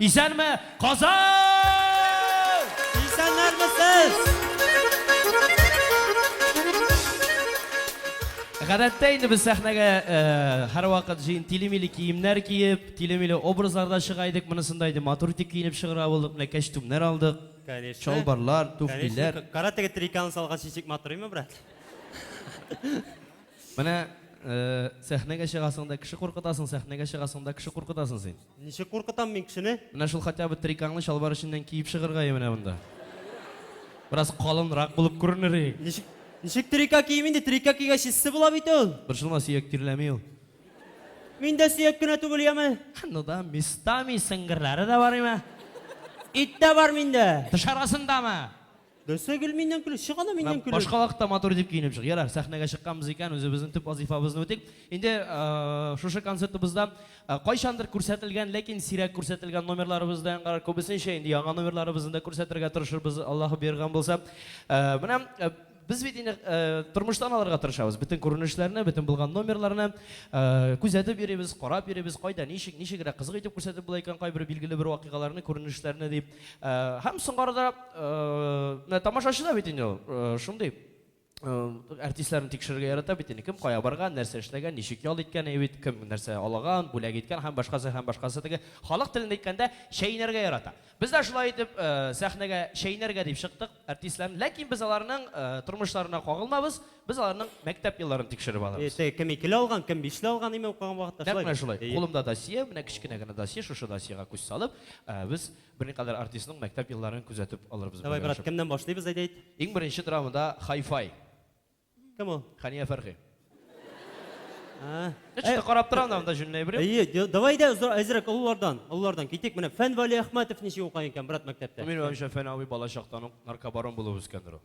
Исәнме, Казан! Исәннәрме сез? Гадәттә инде без сәхнәгә һәрвакыт җыен тилемиле киемнәр киеп, тилемиле образларда чыга идек. Монысында инде матур итеп киенеп чыгыра булдык. Менә кәчтүмнәр алдык. Конечно. Чалбарлар, туфлиләр. Кара теге триканы салгач ничек матурыймы, брат? Менә сәхнәгә чыгасың да кеше куркытасың, сәхнәгә чыгасың да кеше куркытасың син. Ничек куркытам мин кешене? Менә шул хотя бы трикаңны чалбар эченнән киеп чыгырга и менә монда. Бераз калынрак булып күренер и. Ничек, ничек трика киим инде, трика кигәч эссе була бит ул. Борчылма, сөяк тирләми ул. Мин дә сөяк кенә түгел, яме. Ну да, местами сеңгерләре дә бар имә. Ит тә бар миндә. Тыш арасындамы? Нәрсә гел миннән көләсез? Чык аны миннән көлеп! Башка вакытта матур итеп киенеп чык. Ярар, сәхнәгә чыкканбыз икән, үзебезнең төп вазыйфабызны үтик. Инде шушы концертыбызда кайчандыр күрсәтелгән, ләкин сирәк күрсәтелгән номерларыбыз да яңгырар. Күбесенчә инде яңа номерларыбызны да күрсәтергә тырышырбыз, Аллаһы боерган булса. Менә без бит инде тормыштан алырга тырышабыз. Бөтен күренешләрне, бөтен булган номерларны күзәтеп йөрибез, карап йөрибез, кайда ничек, ничегрәк кызык итеп күрсәтеп була икән кайбер билгеле бер вакыйгаларны, күренешләрне дип. Һәм соңгарыда, менә тамашачы да бит инде ул, шундый артистларны тикшерергә ярата бит инде, кем кая барган, нәрсә эшләгән, ничек ял иткән, әйе бит, кем нәрсә алаган, бүләк иткән һәм башкасы һәм башкасы теге. Халык телендә әйткәндә, чәйнәргә ярата. Без дә шулай итеп сәхнәгә чәйнәргә дип чыктык. әртисләрен, ләкин без аларның тормышларына кагылмабыз, без аларның мәктәп елларын тикшереп алабыз. Эше кем икеле алган, кем бишле алган имя укыган вакытта шулай. Нәкъ менә шулай. Кулымда досье, менә кечкенә генә досье, шушы досьега күз салып, без берникадәр артистның мәктәп елларын күзәтеп алырбыз. Давай, брат, кемнән башлыйбыз, әйдәйт? Иң беренче драмада Хай-фай. Кем ул? Хәния Фәрхи. А. Эчтә карап тора анда җүнләй биреп. Әйе, давай да әзрәк олылардан, олылардан китик. Менә Фән Вали Әхмәтов ничек укый икән брат мәктәптә? Мин уйлавымча, Фән абый балачактан ук наркобарон булып үскәндер ул.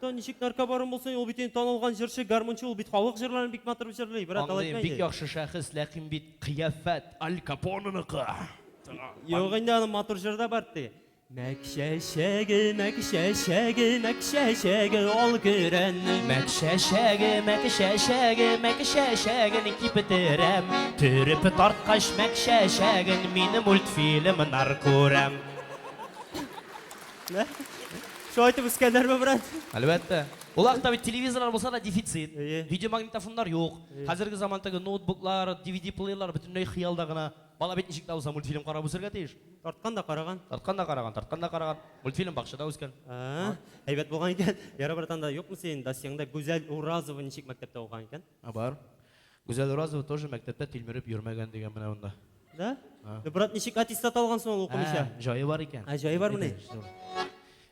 Та ничек наркобарон булсын, ул бит инде танылган җырчы, гармунчы, ул бит халык җырларын бик матур җырлый, брат, алай Андый бик яхшы шәхес, ләкин бит кыяфәт Аль Капоныныкы. Юк инде аның матур җыры да бар ди. Мәк чәчәге, мәк чәчәге, мәк чәчәге ал көрән. Мәк чәчәге, мәк чәчәге, мәк чәчәген киптерәм. Төреп тарткач мәк чәчәген мин мультфильмнар күрәм. Шулай итеп үскәннәрме, брат? Әлбәттә. Ул вакытта бит телевизорлар булса да дефицит. Видеомагнитофоннар юк. Хәзерге заман теге ноутбуклар, DVD-плеерлар бөтенләй хыялда гына. Бала бит ничек тә булса мультфильм карап үсәргә тиеш. Тарткан да караган. Тарткан да караган, тарткан да караган. Мультфильм бакчада үскән. А, әйбәт булган икән. Ярар, братан, да юкмы синең досьеңда Гүзәл Уразова ничек мәктәптә укыган икән? А бар. Гүзәл Уразова тоже мәктәптә тилмереп йөрмәгән дигән менә монда. Да? А. Брат, ничек аттестат алган соң ул укымыйча? Ә, җае бар икән. Ә, җае бармыни?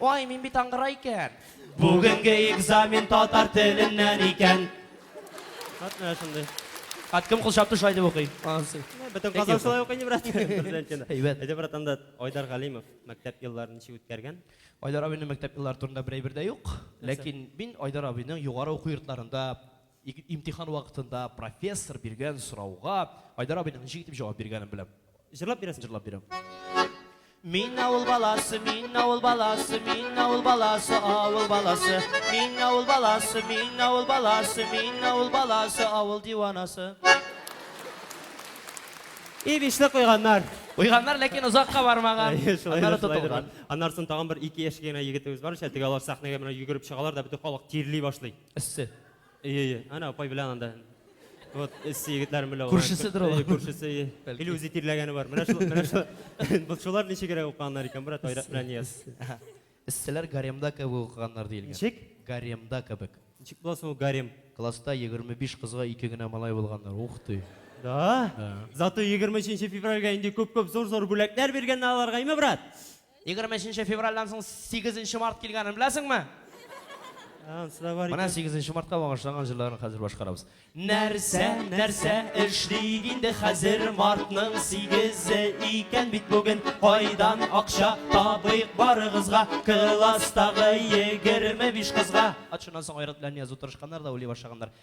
Ай, мин бит аңгыра икән. Бүгенге экзамен татар теленнән икән. Вот менә шундый. Ат кем кул чапты шулай дип укый. Ансы. Бөтен Казан шулай укый, брат. Бердәнчене. Әйбәт. Әйдә, брат, анда Айдар Галимов мәктәп елларын ничек үткәргән? Айдар абыйның мәктәп еллары турында бер әйбер дә юк. Ләкин мин Айдар абыйның югары уку йортларында Ик имтихан вакытында профессор биргән сорауга Айдар абыйның ничек итеп җавап биргәнен беләм. Җырлап бирәсең? Җырлап бирәм. Мин авыл баласы, мин авыл баласы, мин авыл баласы, авыл баласы. Мин авыл баласы, мин авыл баласы, мин авыл баласы, авыл диванасы. И бишле куйганнар. Куйганнар, ләкин озакка бармаган. Аннары тотылган. Аннарсын тагын бер ике яшь кенә егетебез бар, шәтегә алар сәхнәгә менә йөгереп чыгалар да бөтен халык тирли башлый. Эссе. Ие, ие. Ана апай белән анда. Вот, эссе егетләрем белән. Күршеседер ул. Күршесе, ие. Или үзе тирләгәне бар. Менә шул, менә шул. Бу шулар ничегрәк укыганнар икән, брат, Айрат белән Нияз. Эсселәр гаремда кебек укыганнар диелгән. Ничек? Гаремда кебек. Ничек була соң ул гарем? Класста 25 кызга ике генә малай булганнар. Ух ты. Да? Зато 23 февральгә инде күп-күп зур-зур бүләкләр биргәннәр аларга, име, брат? Егерме өченче февральдән соң сигезенче март килгәнен беләсеңме? Анысыда бар Менә икән. сигезенче мартка багышланган җырларны хәзер башкарабыз. Нәрсә, нәрсә эшлик инде хәзер мартның сигезе икән бит бүген. Кайдан акча табыйк барыгызга, класстагы егерме биш кызга. Ат шуннан соң аерат белән язу тырышканнар да уйлый башлаганнар.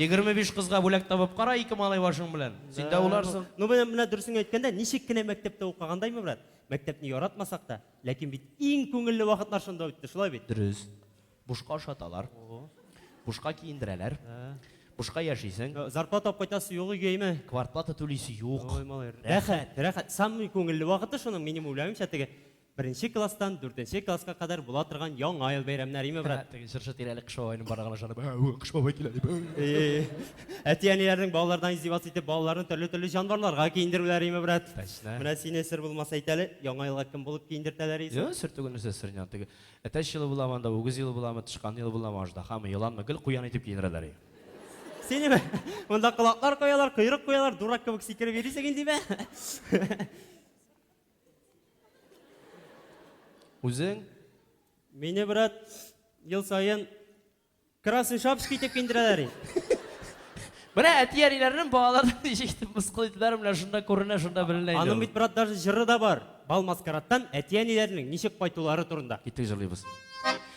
Егерме биш кызга бүләк табып кара ике малай башың белән. Син дә уйларсың. Ну, менә, менә дөресен әйткәндә, ничек кенә мәктәптә укыгандаймы, брат? Мәктәпне яратмасак та, ләкин бит иң күңелле вакытлар шунда үтте, шулай бит? Дөрес. Бушка ашаталар. Бушка киендерәләр. Бушка яшисең. Зарплата алып кайтасы юк өйгәйме? Квартплата түлисе юк. Ой, малай, рәхәт, рәхәт. Самый күңелле вакыты шуның, минем уйлавымча, теге Беренче класстан дүртенче класска кадәр була торган Яңа ел бәйрәмнәриме, брат? Һә, теге җырчы тирәли Кыш бабайның барган ышанып, ә, ү, Кыш бабай килә дип. ә, ү. Э-э-э. Әти-әниләрнең балалардан издеваться итеп, балаларны төрле-төрле җанварларга киендерүләреме, брат? Точно. Менә сине, сер булмаса әйт әле, Яңа елга кем булып киендертәләр исең? Юк, сер түгел, нәрсә серне аны. Теге әтәч елы буламы анда, үгез елы буламы, тычкан елы буламы, аждаһамы, еланмы, гел куян итеп киендерәләр и. Синеме? Монда колаклар куялар, койрык куялар, дурак кебек сикереп йөрисең инде, имә. Үзең? Мине, брат, ел саен Красный Шапск итеп киндерәләр инде. Менә әти-әниләрнең балаларын ничек итеп мыскыл итүләре менә шунда күренә, шунда беленә инде. Аның бит, брат, даже җыры да бар. Бал маскараттан әти-әниләрнең ничек кайтулары турында. Киттек җырлыйбыз.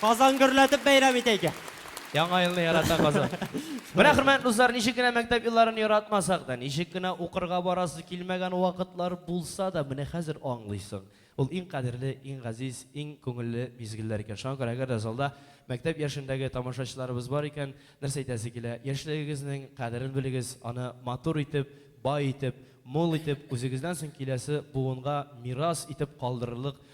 Казан гөрләтеп бәйрәм итә икән. Яңа елны ярата Казан. Менә, хөрмәтле дуслар, ничек кенә мәктәп елларын яратмасак та, ничек кенә укырга барасы килмәгән вакытлар булса да, менә хәзер аңлыйсың. Ул иң кадерле, иң газиз, иң күңелле мизгелләр икән. Шуңа күрә, әгәр дә залда мәктәп яшендәге тамашачыларыбыз бар икән, нәрсә әйтәсе килә, яшьлегегезнең кадерен белегез, аны матур итеп, бай итеп, мул итеп, үзегездән соң киләсе буынга мирас итеп калдырырлык